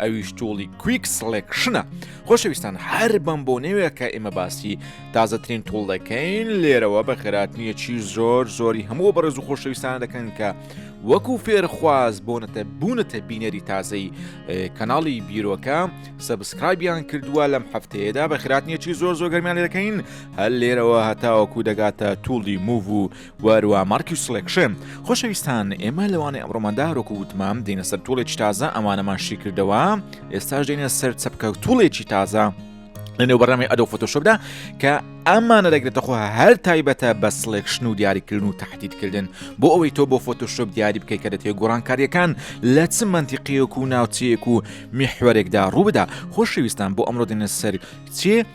ئەویش توڵی کویک سلێکشنە خۆشەویستان هەر بەم بۆ نەوێت کە ئێمە باسی تازەترین توڵ دەکەین لێرەوە بە خێراتنیەکی زۆر زۆری هەموو بەڕێز و خۆشەویستان دەکەن کە وەکو فێرخواز بۆنەتە بوونەتە بینەری تازەی کەناڵی بیرۆکە سەبسکرایبیان کردووە لەم هەفتەیەدا بە خراتنیەکی زۆر زۆر گەرمیان دەکەین هەر لێرەوە هەتاوەکو دەگاتە توڵی موو و وەروا مارکیو سڵێکشێ خۆشەویستان ئێمە لەوانەی ئەمڕۆماندا ڕۆکو وتمام دێنە سەر توڵێکی تازە ئەمانەمان شی کردەوە ئێستاش دێنە سەر چەپکە و توڵێکی تازە لەنێو بەڕامی ئەدۆ فۆتۆشۆپدا کە ئەمانە دەگرێتە خۆ هەر تایبەتە بە سلێکشن و دیاریکردن و تهدیدکردن بۆ ئەوەی تۆ بۆ فۆتۆشۆپ دیاری بکەی کە دەتێ گۆڕانکاریەکان لە چ منتیقیەک و ناوچەیەک و میحوەرێکدا ڕووبدا خۆشەویستان بۆ ئەمڕۆ دێنە سەر چێ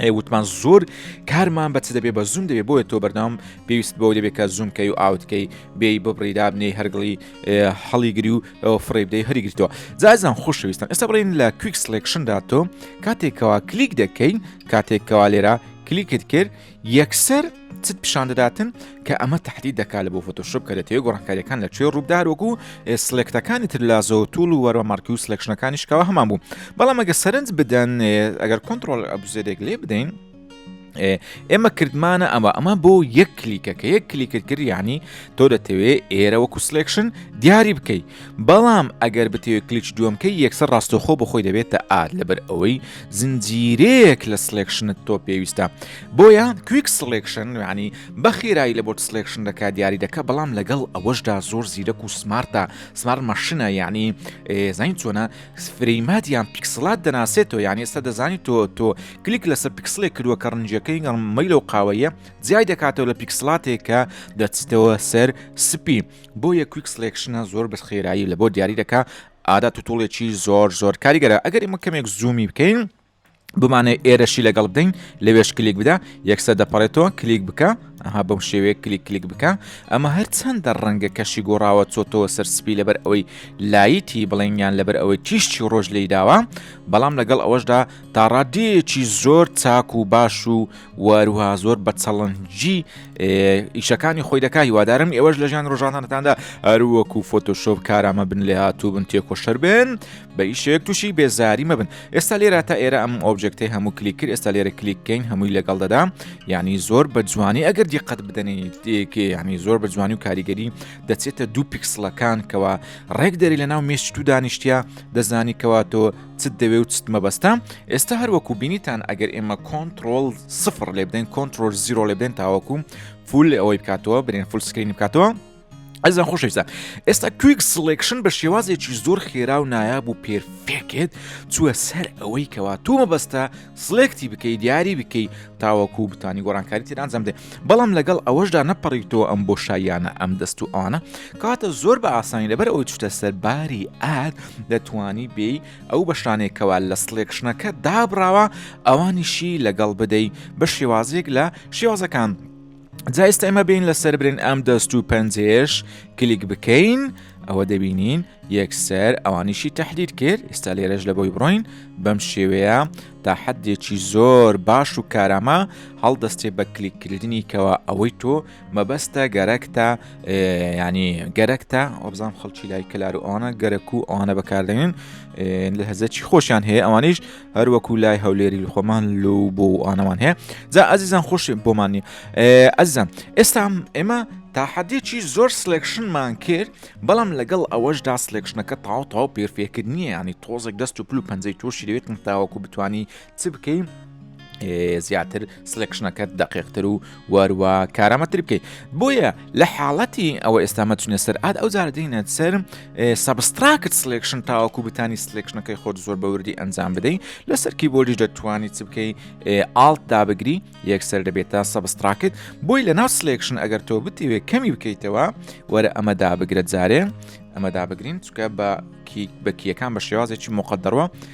ئەی وتمان زۆر کارمان بە چ دەبێ بە زوم دەبێ بۆیە تۆ بەردەوام پێویست بەو دەبێت کە زومکەی و ئاوتکەی بێ ببڕی دابنێی هەرگڵی هەڵیگری و ئەوە فڕی بدەی هەریگرتەوە جازان خۆشەویستن ئێستا بڵین لە کویک سلکشندا تۆ کاتێکەوە کلیک دەکەین کاتێکەوە لێرە کلیکت کرد یەکسەر چت پیشان دەداتن کە ئەمە تهدید دەکات لە بۆ فۆتۆشپ کە دەتەوێت گۆڕانکاریەکان لە کوێ ڕووبدار وەکو سلێکتەکانی تر لە زۆ توول و وەرە مارکی و سلێکشنەکانی شکاوە هەمان بوو بەڵام ئەگە سەرنج بدەن ئەگەر کۆنتترۆل ئەبزێرێک لێ بدەین ئێمە کردمانە ئەمە ئەمە بۆ یەک کلیکە کە یەک کلیکرد کردیانی تۆ دەتەوێت ئێرە وەکو سلێکشن دیاری بکەیت بەڵام ئەگەر بتەوێت کلیچ دووەم کەی یەکسەر ڕاستەوخۆ بۆ خۆی دەبێتە ئا لەبەر ئەوەی زنجیرەیەک لە سلێکشنت تۆ پێویستە بۆیە کویک سلێکشن یعنی بە خێرایی لە بۆت سلێکشن دەکا دیاری دەکە بەڵام لەگەڵ ئەوەشدا زۆر زیرەک و سمارتە سمار مەشنە یعنی زین چۆنە فرەیمات یان پیکسلات دەناسێتەوە یعنی ئێستا دەزانی تۆ تۆ کلیک لەسەر پیکسلێک کردووە کە ڕنجەکەی گەڵ مەیلە و قاوەیە جیای دەکاتەوە لە پیکسلاتێکە دەچیتەوە سەر سپی بۆیە کویک سلێکشنە زۆر بە خێرایی لە بۆ دیاری دەکا ئادا توتوڵێکی زۆر زۆر کاریگەرە ئەگەر ئمە کەمێک زوومی بکەین بمانەی ئێرەشی لەگەڵ بدەین لەوێش کلیک بدا یەکسە دەپەڕێتەوە کلیک بکە ئەها بەم شێوەیە کلیک کلیک بکە ئەمە هەر چەندە ڕەنگە کەشی گۆڕاوە چۆتەوە سەر سپی لەبەر ئەوەی لایتی بڵێنیان لەبەر ئەوەی تیشتی ڕۆژ لی داوە بەڵام لەگەڵ ئەوەشدا تا ڕادەیەکی زۆر چاک و باش و واروها زۆر بە چەڵەنجی ئیشەکانی خۆی دەکا هیوادارم ئێوەش لە ژیان ڕۆژانانەتاندا هەروەکو فۆتۆشۆب کارامە بن لێ هاتوو بن تێکۆشەر بن بە ئیشێک تووشی بێزاری مەبن ئێستا لێرا تا ئێرە ئەم ئۆبجێکتی هەموو کلیک کرد ئێستا لێرە کلیککەین هەمووی لەگەڵ دەدا یعنی زۆر بە جوانی ئەگەر دیقەت بدەنیت دێکێ ینی زۆر بە جوانی و کاریگەری دەچێتە دوو پیکسلەکان کەەوە ڕێک دەری لە ناو مێشت و دانیشتە دەزانی کەواتۆ چت دەوێ و چت مەبەستە ئێستا هەروەکو بینیتان ئەگەر ئێمە کۆنتترۆل سفر لێ بدەین کۆنتترۆل زیرۆ لێ بدەین تاوەکو فول ئەوەی بکاتەوە برێن فول سکرین بکاتەوە ئەزان خۆشەویستە ئێستا کویک سلکشن بە شێوازێکی زۆر خێرا و نایاب و پێرفێکێت چووە سەر ئەوەی کەوا تۆ مەبەستە سڵێکتی بکەی دیاری بکەی تاوەکو بتانی گۆرانکاری تر ئەنجام دێ بەڵام لەگەڵ ئەوەشدا نەپەڕیتەوە ئەم بۆ شایانە ئەم دەست و ئەوانە کاتە زۆر بە ئاسانی لەبەر ئەوەی چتە سەرباری ئاد دەتوانی بێی ئەو بەشانێکەوە لە سڵێکشنەکە دابراوە ئەوانیشی لەگەڵ بدەی بە شێوازێک لە شێوازەکان جا ئێستا ئێمە بین لەسەر برێن ئەم دەست و پەنجێش کلیک بکەین ئەوە دەبینین یەکسەر ئەوانیشی تهدید کرد ئێستا لێرەش لە بۆی بڕۆین بەم شێوەیە تا حدێکی زۆر باش و کارامە هەڵدەستێ بە کلیککردنی کەەوە ئەوەی تۆ مەبەستە گەرەکتە ینی گەرەکتە ئۆبزان خەڵکی لای کلار و ئەوانە گەرەک و ئەوانە بەکاردێنن لە هەزەکی خۆشیان هەیە ئەوانیش هەر وەکو لای هەولێری خۆمان لو بۆ ئانەوان هەیە جا ئازیزان خۆش بۆمانی ئەزان ئێستا ئێمە تا حەدێکی زۆر سلێکشنمان کرد بەڵام لەگەڵ ئەوەشدا سلێکشنەکە تاو تاو پێرفێکرد نییە ینی تۆزێک دەست و پل و پەنجەی تۆشی لەوێت تاوەکو بتانی چ بکەین زیاتر سلێکشنەکەت دەقێقتر و وەروە کارامەتر بکەیت بۆیە لە حاڵەتی ئەوە ئێستامە چونە سەر ئاد ئەو جارە دەینە سەر سەبستراکت سلێکشن تاوەکو بتانی سلێکشنەکەی خۆت زۆر بەوردی ئەنجام بدەیت لەسەر کیبۆردیش دەتوانانی چ بکەی ئاڵت دابگری یەکسەر دەبێت تا سەبستراکت بۆی لە ناو سلێکشن ئەگەر تۆ بتیوێ کەمی بکەیتەوە وەرە ئەمە دابگرە جارێ ئەمەدا بگرین چکە بە بەکیەکان بە شێوازێکی مقدەڕوە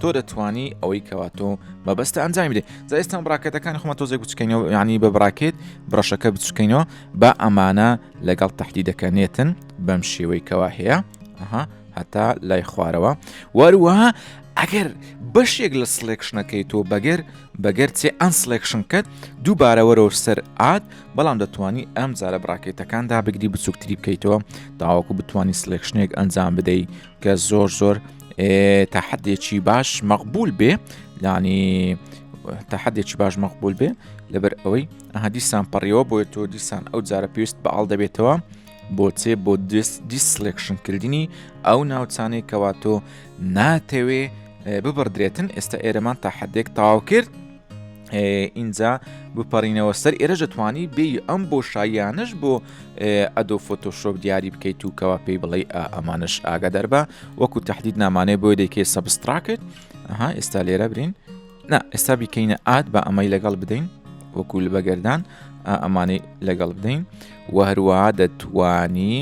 تۆ دەتوانی ئەوەی کەوا تۆ مەبەستە ئەنجامی بدەیت جا ئێستا بڕاکەتەکانی خۆمە تۆزێک بچکەینەوە ینی بە بڕاکێت بڕەشەکە بچکەینەوە با ئەمانە لەگەڵ تهدیدەکە نێتن بەم شێوەی کەوا هەیە ئەها هەتا لای خوارەوە وەروەها ئەگەر بەشێک لە سلێکشنەکەی تۆ بەگەر بەگەر چێ ئەن سلێکشن کەت دووبارەوەرەوە سەر ئاد بەڵام دەتوانی ئەم جارە بڕاکێتەکاندا بگری بچووکتری بکەیتەوە تاواکو بتانی سلێکشنێک ئەنجام بدەیت کە زۆر زۆر تەحەدێکی باش مەقبول بێ لانی تەحەدێکی باش مەقبول بێ لەبەر ئەوەی ئەها دیسان پەڕیەوە بۆیە تۆ دیسان ئەو جارە پێویست بە ئاڵ دەبێتەوە بۆچێ بۆ دست دیسلکشن کردنی ئەو ناوچانەی کەوا تۆ ناتەوێ ببڕدرێتن ئێستا ئێرەمان تا حدێک تاو کرد ئینجا بپەڕینەوە سەر ئێرە دەتوانی بێ ئەم بۆ شایانش بۆ ئەدۆ فۆتۆشۆپ دیاری بکەیت و کەوا پێی بڵێ ئەمانش ئاگا دەربە وەکو تهدید نامانێ بۆ دەکێ سەبستراکت ئەها ئێستا لێرە برین نا ئێستا بیکەینە ئات بە ئەمەی لەگەڵ بدەین وەکو لە بەگەردان ئەمانەی لەگەڵ بدەین و هەروە دەتوانی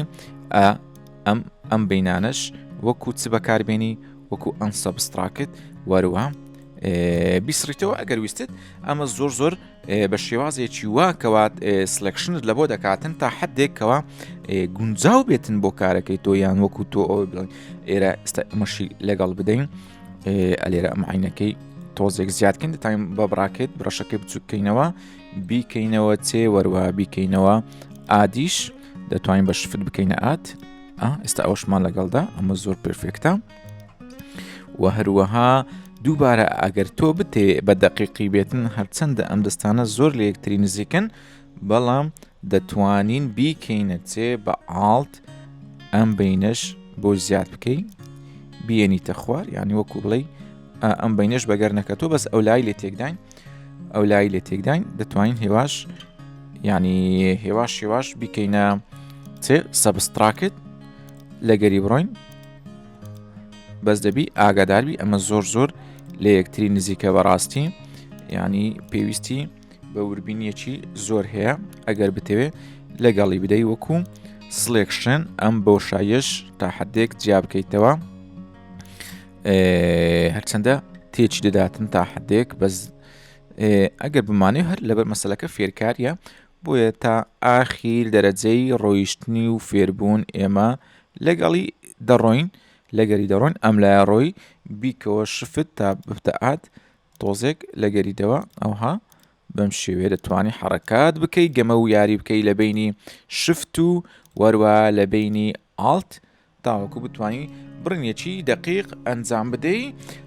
ئەم ئەم بینانش وەکو چ بەکاربێنی وەکو ئەم سەبستراکت وەروە بیسڕیتەوە ئەگەر ویستت ئەمە زۆر زۆر بە شێوازێکی وا کەوات سلکشنت لە بۆ دەکاتن تا حدێکەوە گونجاو بێتن بۆ کارەکەی تۆ یان وەکو تۆ ئەو بڵێن ئێرە مەشی لەگەڵ بدەین ئەلێرە ئەم عینەکەی تۆزێک زیادکەین دەتایم بە بڕاکێت بڕەشەکەی بچووکەینەوە بیکەینەوە چێ وەروە بیکەینەوە ئادیش دەتوانین بە شفت بکەینە ئات ئێستا ئەوشمان لەگەڵدا ئەمە زۆر پرفێکتە و هەروەها دووبارە ئەگەر تۆ بتێ بە دەقیقی بێتن هەرچەندە ئەم دەستانە زۆر لە یەکتری نزیکن بەڵام دەتوانین بیکەینە چێ بە ئاڵت ئەم بینەش بۆ زیاد بکەی بینیتە خوار یعنی وەکو بڵێ ئەم بینەش بەگەر نەکە تۆ بەس ئەو لای لێ تێکداین ئەو لای لێ تێکداین دەتوانین هێواش ینی هێواش هێواش بیکەینە چێ سەبستراکت لەگەری بڕۆین بەس دەبی ئاگاداربی ئەمە زۆر زۆر لە یەکتری نزیکە بەڕاستی ینی پێویستی بە وربینیەکی زۆر هەیە ئەگەر بتەوێت لەگەڵی بدەی وەکو سلێکشن ئەم بۆشایش تا حدێک جیا بکەیتەوە هەرچەندە تێچی دەداتن تا حدێک بەس ئەگەر بمانێ هەر لەبەر مەسلەکە فێرکاریە بۆیە تا ئاخیر دەرەجەی ڕۆیشتنی و فێربوون ئێمە لەگەڵی دەڕۆین لەگەری دەڕۆین ئەم لایە ڕۆی بیکەوە شفت تا بتەعات تۆزێک لەگەری دەوە ئەوها بەم شێوێ دەتوانانی حرکات بکەی گەمە و یاری بکەی لە بینی شفت و وەروە لە بینی ئالت تاوەکو بتوانی بڕنیەکی دەقیق ئەنجام بدەی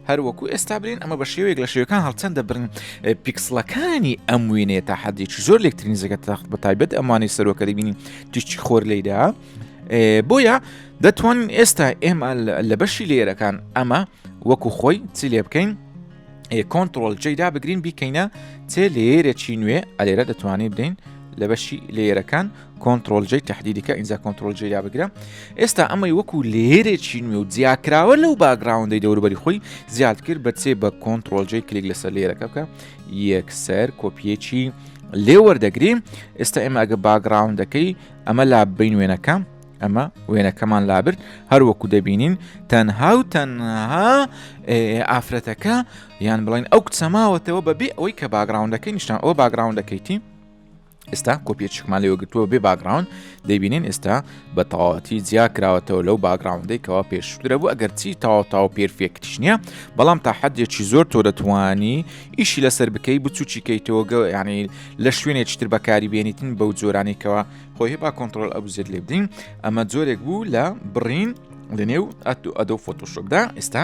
هەروەکو ئێستا برین ئەمە بە شێوەیەک لە شێوەکان هەڵچەند دەبرن پیکسلەکانی ئەم وێنێ تا حەدێکی زۆر لەکترین زەگە تەخت بە تایبەت ئەمانی سەرۆکە دەبینین تیشتی خۆر لێدا بۆیە دەتوانین ئێستا ئێمە لە بەشی لێرەکان ئەمە وەکو خۆی چی لێ بکەین کۆنتترۆل جێدا بگرین بیکەینە چێ لێرە چی نوێ ئەلێرە دەتوانین بدەین لە بەشی لێرەکان کۆنترۆل جەی تهدیدکە ئینجا کۆنترۆل جێیا بگرە ئێستا ئەمەی وەکو لێرێکی نوێ و جیاکراوە لەو باگراوندەی دەوروبەری خۆی زیاد کرد بەچێ بە کۆنترۆل جێ کلیک لەسەر لێرەکە بکە یەکسەر کۆپیەکی لێ وەردەگریم ئێستا ئێمە ئەگە باگراوندەکەی ئەمە لا بین وێنەکەم ئەمە وێنەکەمان لابرد هەروەکو دەبینین تەنها و تەنها ئافرەتەکە یان بڵین ئەو کچەماوەتەوە بەبێ ئەوەی کە باگراوندەکەی نیشتان ئەو باگراوندەکەیتی ئێستا کۆپیەچکمان لێوە گرتووە بێ باگراون دەبینین ئێستا بە تەواتی جیا کراوەتەوە لەو باگراوندەی کەوا پێشترە بوو ئەگەر چی تاوتاو پێرفێکتش نییە بەڵام تا حەدێکی زۆر تۆ دەتوانی ئیشی لەسەر بکەی بچوکی کەیتەوەگە ینی لە شوێنێک چتر بەکاری بێنیتن بەو جۆرانێکەوە خۆی با کۆنتترۆل ئەبزێت لێ بدین ئەمە جۆرێک بوو لە بڕین لە نێو ئەتو ئەدە فۆتۆشۆپدا ئێستا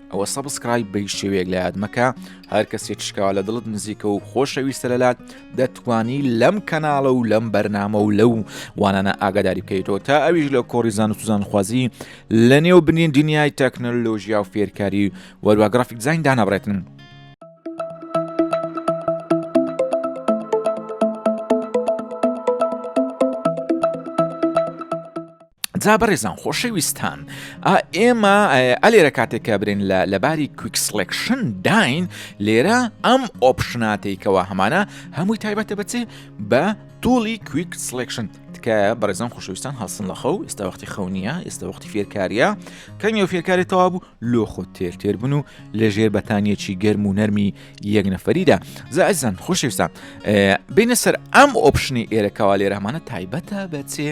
ئەوە سەبسکرایب بەی شێوەیەک لە یاد مەکە هەر کەسێک شکاوە لە دڵت نزیکە و خۆشەویستە لەلات دەتوانی لەم کەناڵە و لەم بەرنامە و لەو وانانە ئاگاداری بکەیتەوە تا ئەویش لە کۆڕیزان و سوزان خوازی لە نێو بنین دنیای تەکنەلۆژیا و فێرکاری وەروە گرافیک زین دانابڕێتن جا بەڕێزان خۆشەویستان ئێمە ئەلێرە کاتێک کە برێن لە لەباری کویک سلکشن داین لێرە ئەم ئۆپشناتێکەوە هەمانە هەمووی تایبەتە بچێ بە توڵی کویک سلکشن تکایە بەڕێزان خۆشەویستان هەڵسن لە خەو ئێستا وەختی خەونیە ئێستا وەختی فێرکاریە کەمی و فێرکاری تەوا بوو لۆ خۆ تێر تێر بن و لە ژێر بەتانیەکی گەرم و نەرمی یەک نەفەریدا زازان خۆشەویستان بینە سەر ئەم ئۆپشنی ئێرەکەوا لێرەمانە تایبەتە بەچێ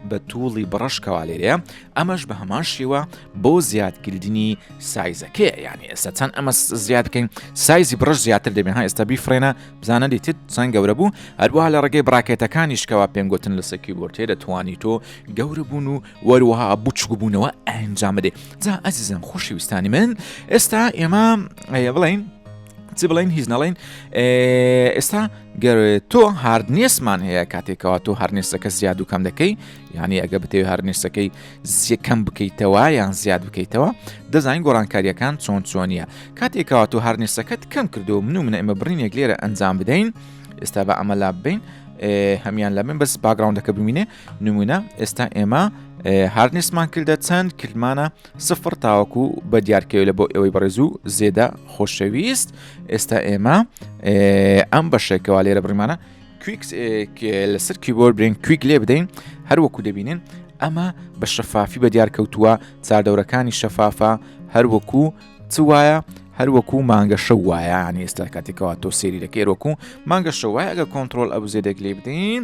بە تووڵی بڕەش کەوالێرێ ئەمەش بە هەمان شێوە بۆ زیادکردنی سایزەکەی یانی ئێستا چەند ئەمە زیاد بکەین سایزی بڕش زیاتر دەبێ ها ئێستا بیفرێنە بزانە دیتت چەند گەورە بوو هەروە لە ڕێگەی بڕاکێتەکانیشکەوە پێم گوتن لە سەکی بۆرتێ دەتوانی تۆ گەورە بوون و وەروەها بچوک بوونەوە ئەنجام بدێ جا ئەزیزم خۆشی ویستانی من ئێستا ئێمە بڵین چی بڵین هیچ نەڵین ئێستا گەروێ تۆ هاردنیسمان هەیە کاتێکەوە تۆ هەرنێسەکە زیاد و کەم دەکەی یعنی ئەگە بتەوێت هەرنێسەکەی زیەکەم بکەیتەوە یان زیاد بکەیتەوە دەزانین گۆڕانکاریەکان چۆن چۆنیە کاتێکەوە تۆ هەرنێسەکەت کەم کردو من و منە ئمە برینێک لێرە ئەنجام بدەین ئێستا بە ئەمە لا بین هەمان لە من بەس باگراونەکە ببینێ نمونە ئێستا ئێمە هاردنیسمان کردە چەند کردمانە سفڕ تاوەکو بە دیارکەوێ لە بۆ ئێوەی بەڕێز و زێدە خۆشەویست ئێستا ئێمە ئەم بەشێکەوە لێرە بڕیمانە کویکس لەسەر کیبۆر برێن کویک لێ بدەین هەروەکو دەبینن ئەمە بە شەفافی بە دیار کەوتووە چاردەورەکانی شەفافە هەروەکو چ وایە هەروەکو مانگە شە وایە ینی ئێستا کاتێکەوە تۆ سێری دەکەێرۆکو مانگە شە وایە ئەگە کۆنتترۆل ئەبزێدەک لێ بدەین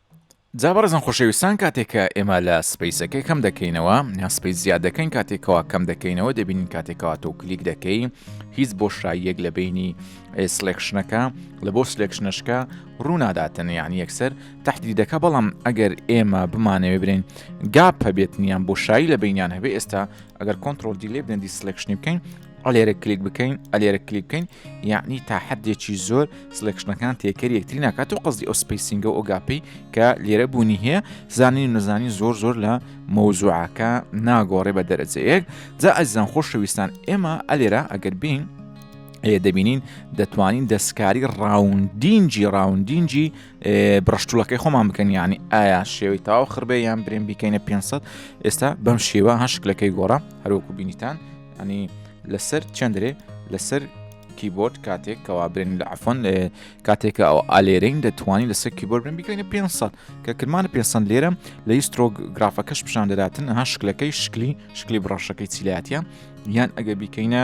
جا بەڕێزان خۆشەویستان کاتێک کە ئێمە لە سپیسەکەی کەم دەکەینەوە یان سپیس زیاد دەکەین کاتێکەوە کەم دەکەینەوە دەبینین کاتێکەوە تۆ کلیک دەکەی هیچ بۆ شاییەک لە بینی سلێکشنەکە لە بۆ سلێکشنەشکە ڕووناداتن یعنی یەکسەر تحتی دەکە بەڵام ئەگەر ئێمە بمانەوێ برین گاپ هەبێت نیان بۆ شایی لە بینیان هەبێ ئێستا ئەگەر کۆنتترۆل دیلێ بدەن دیسلکشنی بکەین ئەلێرە کلیک بکەین ئەلێرە کلیک بکەین یعنی تا حدێکی زۆر سلێکشنەکان تێکەری یەکتری ناکات و قصدی ئەو سپیسینگە ئۆگاپی کە لێرە بوونی هەیە زانین نەزانی زۆر زۆر لە مەوزوعەکە ناگۆڕێ بە دەرەجەیەک جا ئەزان خۆشەویستان ئێمە ئەلێرە ئەگەر بین ئەیە دەبینین دەتوانین دەستکاری ڕاوندینجی ڕاوندینجی بڕشتولەکەی خۆمان بکەن ینی ئایا شێوەی تاو خڕبێ یان برێن بیکەینە 500 ئێستا بەم شێوە هەشکلەکەی گۆڕە هەروەکو بینیتان ئەنی لەسەر چەندرێ لەسەر کیبۆرد کاتێک کەوا برێن لە عفۆن لە کاتێکە ئەو ئالێرین دەتوانانی لەسەر کیبۆرد بن بیکەینە 500 کە کرمان 500 لێرە لە یسترۆگ گرافەکەش پیشان دەداتن ها شکلەکەی شکلی شکلی بڕەشەکەی چیلاتە یان ئەگە بیکەینە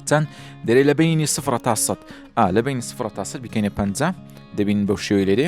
چەند دەرێ لە بینی سفرە تا سە ئا لە بینی سفرە تا سەر بکەینە پ دەبین بەو شێوی لێرێ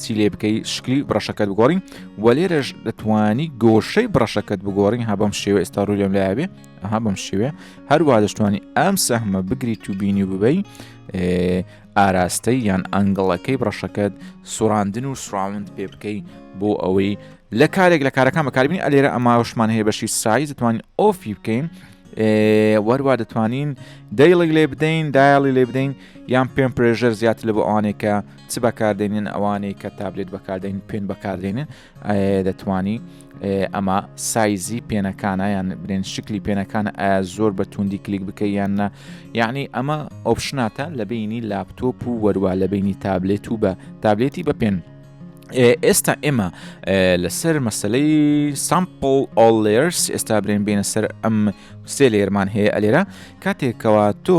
چی لێ بکەی شکلی بڕەشەکەت بگۆڕین و لێرەش دەتوانی گۆشەی بڕەشەکەت بگۆڕین ها بەم شێوە ئێستا ڕوولێم لابێ ئەها بەم شێوێ هەروە دەشتوانی ئەم سەحمە بگریت و بینی و ببەی ئاراستەی یان ئەنگڵەکەی بڕەشەکەت سوڕاندن و سراوند پێ بکەی بۆ ئەوەی لە کارێک لە کارەکان بەکاربین ئەلێرە ئەماوشمان هەیە بەشی سایز دەتوانین ئۆفی بکەین وەروا دەتوانین دەیڵی لێ بدەین دایڵی لێ بدەین یان پێم پرێژەر زیاتر لە بۆ ئەوانێکە چ بەکاردێنن ئەوانەی کە تابلێت بەکاردێن پێن بەکاردێنن دەتوانی ئەمە سایزی پێنەکانە یان برێن شکلی پێنەکان ئایا زۆر بە توندی کلیک بکە یان نە یعنی ئەمە ئۆپشناتە لە بینی لاپتۆپ و وەروە لە بینی تابلێت و بە تابلێتی بە پێن ئێستا ئێمە لەسەر مەسلەی سامپل ئۆلێرس ئێستا برێن بینە سەر ئەم سێ لێرمان هەیە ئەلێرە کاتێکەوە تۆ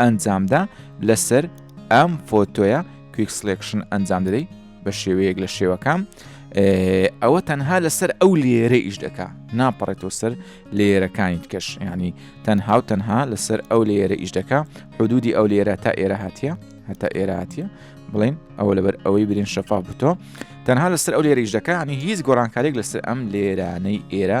ئەنجامدا لەسەر ئەم فۆتۆیە کویک سلێکشن ئەنجام دەدەی بە شێوەیەک لە شێوەکان ئەوە تەنها لەسەر ئەو لێرە ئیش دەکا ناپەڕێتەوە سەر لێرەکانی کەش ینی تەنها و تەنها لەسەر ئەو لێرە ئیش دەکا حدودی ئەو لێرە تا ئێرە هااتە هەتا ئێرە هااتە بڵین ئەوە لەبەر ئەوەی برین شەفاف بتۆ تەنها لەسەر ئەو لێرە ئیش دەکانی هیچ گۆڕانکارێک لەسەر ئەم لێرانەی ئێرە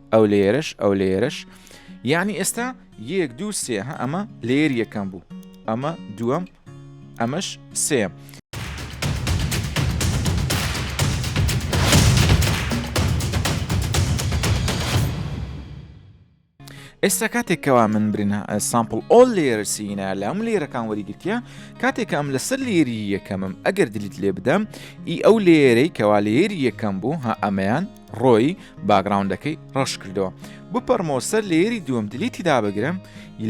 ئەو لێرەش ئەو لێرەش یعنی ئێستا یەک دوو سێ ها ئەمە لێر یەکەم بوو ئەمە دووەم ئەمەش سێم ئێستا کاتێکەوە من برین سامپل ئۆل لێرە سینا لە ئەم لێرەکان وەریگرتیا کاتێکە ئەم لەسەر لێری یەکەمم ئەگەر دلیت لێ بدەم ئی ئەو لێرەی کەوا لێری یەکەم بوو ها ئەمەیان ڕۆی باگڕاوندەکەی ڕەش کردەوە بپەڕمەوە سەر لێری دووەم دلیتی دابگرم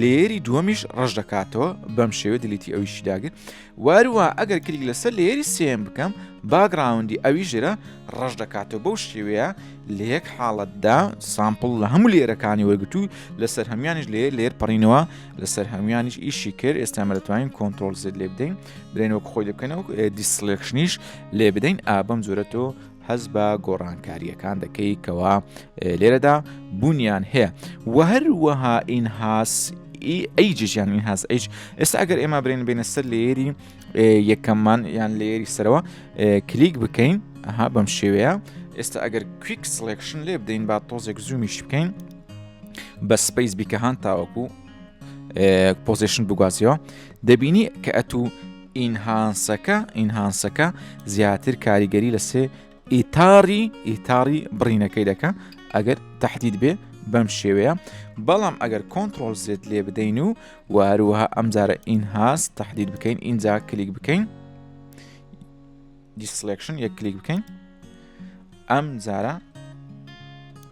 لێری دووەمیش ڕەش دەکاتەوە بەم شێوە دلیتی ئەویشی داگر وارووا ئەگەر کلیک لەسەر لێری سێم بکەم باگراوندی ئەوی ژێرە ڕەش دەکاتەوە بەو شێوەیە لە یەک حاڵەتدا سامپل لە هەموو لێرەکانی وەرگتو لەسەر هەمویانش لێ لێر پەڕینەوە لەسەر هەمویانیش ئیشی کرد ئێستامە دەتوانین کۆنتترۆل زێت لێ بدەین برێنەوە خۆی دەکەنەوە دیسلێکشنیش لێ بدەین ئابم زۆرەتەوە هەست بە گۆڕانکارییەکان دەکەی کەوا لێرەدا بوونیان هەیە و هەروەها ئینهاس ئەیجیان ئینهاز ئەیج ئێستا ئەگەر ئێمە برێن بینە سەر لێری یەکەممان یان لێری سەرەوە کلیک بکەین ئەها بەم شێوەیە ئێستا ئەگەر کویک سلکشن لێ بدەین با تۆزێک زوومیش بکەین بە سپیس بیکە هاان تاوەکو پۆزیشن بگوازیەوە دەبینی کە ئەتوو ئینهانسەکە، Enhance، ەکە زیاتر کاریگەری لە سێ ئیتاری ئیتاری بڕینەکەی دەکە ئەگەر تهدید بێ بەم شێوەیە بەڵام ئەگەر کۆنتترۆل زێت لێ بدەین و واروها ئەمجارە ئینهاز تهدید بکەین ئینجا کلیک بکەین دیسلکشن یەک کلیک بکەین ئەم جارە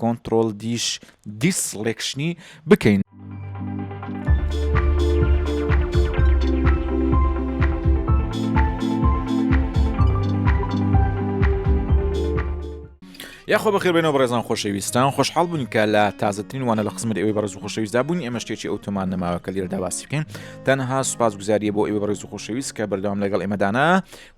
کۆنتڕۆڵ دیش دیسڵێکشنی بکەین. یاخۆ بەخێبێنەوە بەڕێزان خۆشەویستان خۆشحاڵ بوون کە لە تازەترین وانە لە قسممە ئەوی بەڕز و خۆشەویستدا بوون ئێمە شتێکی ئەوتۆمان نەماوە کە لێرەدا باسیکەین تەنها سوپاس گوزاریە بۆ ئێوە بەڕێز و خۆشەویست کە بەردەوام لەگەڵ ئێمەدانا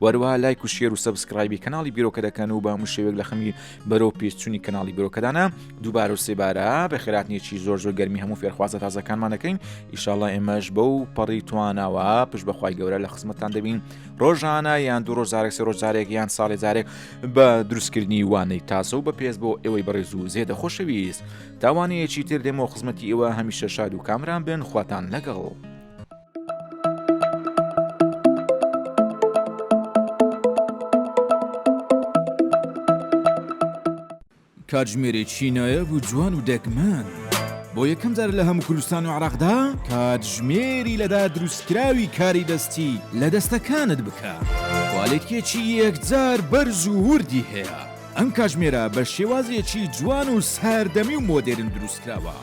وەروەها لایک و شێر و سەبسکرایبی کەناڵی بیرۆکە دەکەن و بە هەموو شێوێک لە خەمی بەرەو پێچووی کەناڵی بیرۆکەدانە دووبارە و سێبارە بەخێراتنیەکی زۆر زۆر گەرمی هەموو فێرخوازە تازەکانمان دەکەین ئیشاڵە ئێمەش بە و پەڕی توانەوە پشت بەخوای گەورە لە خزمەتان دەبین ڕۆژانە یان دوو ڕۆژارێک سێ ڕۆژارێک یان ساڵێ جارێک بە دروستکردنی وانەی تازە و بە پێز بۆ ئێوەی بەڕێز و زێدە خۆشەویست تاوانەیەکی تر دێمەوە خزمەتی ئێوە هەمیشە شاد و کامران بن خواتان لەگەڵ. کاتژمێرێکی نایاب و جوان و دەگمەن بۆ یەکەم جار لە هەموو کوردستان و عراقدا کاتژمێری لەدا دروستکراوی کاری دەستی لە دەستەکانت بکە کوالێتکێکی یەکجار بەرز و وردی هەیە ئەم کاتژمێرە بە شێوازێکی جوان و ساردەمی و مۆدێرن دروستکراوە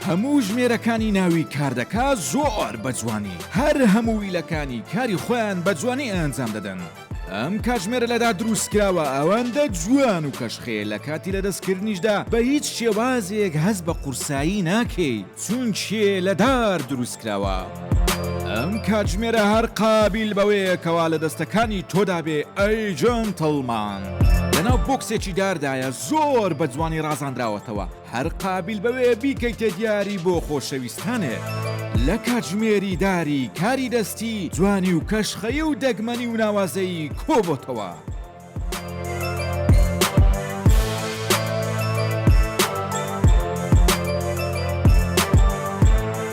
هەموو ژمێرەکانی ناوی کاردەکە زۆر بە جوانی هەر هەموو ویلەکانی کاری خۆیان بە جوانی ئەنجام دەدەن ئەم کاتژمێرە لەدا دروستکراوە ئەوەندە جوان و کەشخەیە لە کاتی لەدەستکردنیشدا بە هیچ شێوازێک هەست بە قورسایی ناکەی چونکێ لەدار دروستکراوە. ئەم کاتژمێرە هەر قابیل بەوەیە کەوا لە دەستەکانی تۆدا بێ ئەی جەنتڵمان لەناو بۆکسێکی داردایە زۆر بە جوانی ڕازاندراوەتەوە. هەر قابیل بەوێ بیکەیتە دیاری بۆ خۆشەویستانت لە کاتژمێری داری کاری دەستی جوانی و کەشخەیی و دەگمەنی و ناوازەیی کۆبۆتەوە.